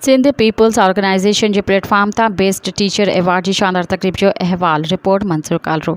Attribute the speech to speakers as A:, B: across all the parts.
A: Sindh people's organisation جي platform تان best teacher award جي شاندار تقريب جو احوال، report Mansoor Kalro.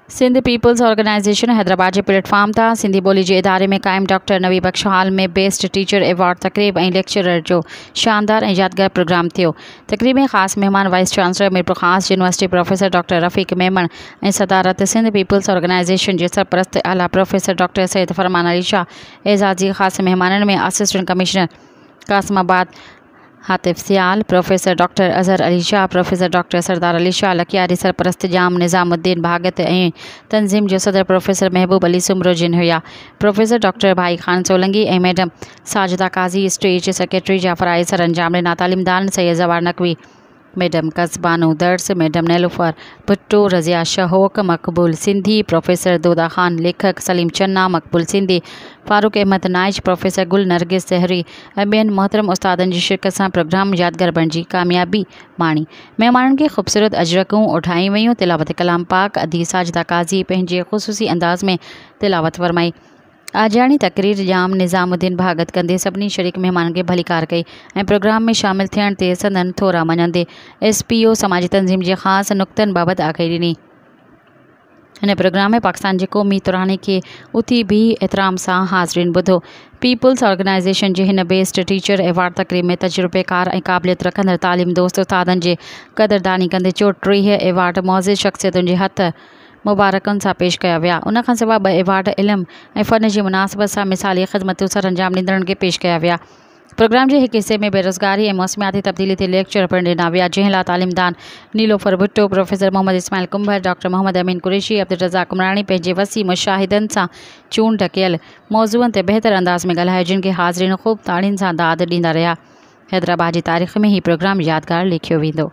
A: Sindh people's organisation Hyderabad جي پليٽ فارم تان سنڌي ٻولي جي اداري ۾ قائم doctor Nabi Bux hall ۾ best teacher award تقريب ۽ ليڪچرر جو شاندار ۽ يادگار پروگرام ٿيو، تقريب ۾ خاص مهمان vice chancellor Mirpurkhas university professor doctor Rafiq Memon ۽ صدارت سنڌ پيپلز آرگنائيزيشن جي سرپرست اعليٰ پروفيسر ڊاڪٽر سيد فرمان علي شاهه اعزاز جي خاص مهمانن ۾ assistant commissioner Qasimabad Hatif Sial, professor doctor Azhar Ali Shah, professor doctor Sardar Ali Shah Lakiari, سرپرست ڄام نظام الدين ڀاڳت ۽ تنظيم جو صدر پروفيسر محبوب علي سومرو جن هيا. Professor doctor Bhai Khan Solangi ۽ madam Sajida Qazi, stage secretary Jafar آهي، سرانجام ڏنا تعليمدارن سيد زوار نقوي، ميڊم قص بانو درس، ميڊم نيلوفر ڀٽو، رضيه شهوڪ، مقبول سنڌي، پروفيسر دودا خان، ليکڪ سليم چنا، مقبول سنڌي، فاروق احمد نائچ، پروفيسر گل نرگس سهري ۽ ٻين محترم استادن جي شرڪت سان پروگرام يادگار بڻجي ڪاميابي ماڻي. مهمانن کي خوبصورت اجرڪون اوڍايون ويون، تلاوت ڪلام پاڪ ادي ساجده قاضي پنهنجي خصوصي انداز ۾ تلاوت فرمائي، آجياڻي تقرير ڄام نظام الدين ڀاڳت ڪندي سڀني شريڪ مهمانن کي ڀليڪار ڪئي ۽ پروگرام ۾ شامل ٿيڻ تي سندن ٿورا مڃيندي ايس پي او سماجي تنظيم جي خاص نڪتن بابت آگهي ڏني. هن پروگرام ۾ پاڪستان جي قومي تراني کي اٿي بيهي احترام سان حاضرين ٻڌو. پيپلز آرگنائيزيشن جي هن بيسٽ ٽيچر ايوارڊ تقريب ۾ تجربيڪار ۽ قابليت رکندڙ تعليم دوست استادن جي قدرداني ڪندي چوٽيهه ايوارڊ معزز شخصيتن جي هٿ مبارڪن سان پيش ڪيا ويا. ان کان سواء ٻه ايوارڊ علم ۽ فن جي مناسبت سان مثالي خدمتون سرانجام ڏيندڙن کي پيش ڪيا ويا. پروگرام جي هڪ حصي ۾ بيروزگاري ۽ موسمياتي تبديلي تي ليڪچر پڻ ڏنا ويا، جنهن لاء تعليمدان نيلوفر ڀٽو، پروفيسر محمد اسماعيل ڪنڀر، ڊاڪٽر محمد امين قريشي، عبدالرزاق عمراڻي پنهنجي وسيع مشاهدن سان چونڊ ڪيل موضوعن تي بهتر انداز ۾ ڳالهايو، جن کي حاضرين خوب تاڙين سان داد ڏيندا رهيا. حيدرآباد جي تاريخ ۾ هي پروگرام يادگار ليکيو ويندو.